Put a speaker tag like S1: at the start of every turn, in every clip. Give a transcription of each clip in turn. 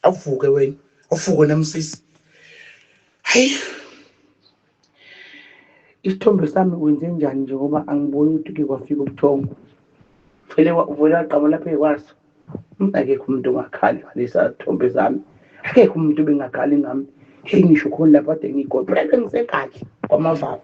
S1: awuvuke wena awuvuke namsisi hayi isithombe sami kwenze njani nje ngoba angiboni ukuthi ke kwafika ubuthongo vele uvele wagqama lapha ekwaso hmm, akekho umuntu ongakhali ngalesa thombe zami akekho umuntu obengakhali ngami heyi ngisho khona lapho ade ngiyigodo ngisengathi kwamavalo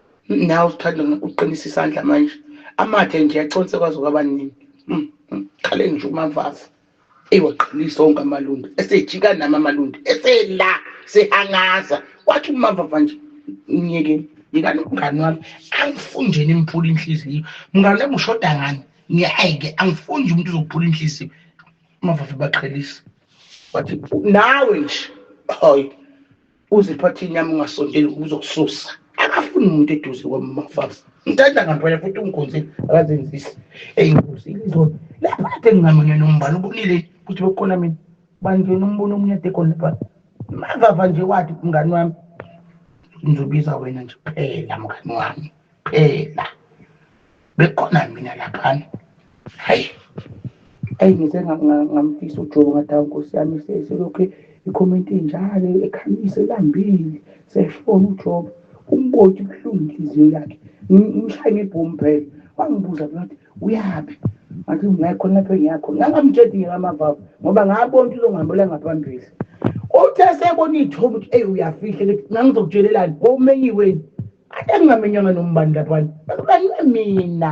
S1: nawe uthanda uqinisa isandla manje amathe nje aconse kwaze kwaba nini mm, mm. khale nje umavaza ewaqinisa onke amalundi esejika nami amalundi esela sehangaza wathi umavava nje ngiyekeni yekani umngane wami angifuni nje nimphula inhliziyo mngane wami ushoda ngani ngiyayike angifuni nje umuntu uzokuphula inhliziyo umavava baqhelisa wathi nawe nje hayi uzipho athini yami ungasondeli uzokususa akafuni umuntu eduze kwamafasa ngitanda ngampela futhi ungikhonzile akazenzisi eyinkosi ilizona lapha kade ngingamunye nombala ubonile ukuthi bekhona mina bangena umbono omunye ade khona lapha mavava nje wathi mngani wami ngizobiza wena nje kuphela mngani wami kuphela bekhona mina laphana hayi ayi ngize ngamfisa ujobo ngathi awu nkosi yami selokhu ikhomenti njalo ekhamise lambile seshona ujobo umboti kuhlungu inhliziyo yakhe ngimshaye ngebhomu phela wangibuza ngathi uyaphi ngathi ngiya khona lapho engiyakho ngangamtshedi ngekamavava ngoba ngabona ukuthi uzongihambela ngaphambili uthe sebona iy'thombe ukuthi eyi uyafihla ukuthi ngangizokutshelelani komenyiweni Ake ngingamenyanga nombani lapho kanti mina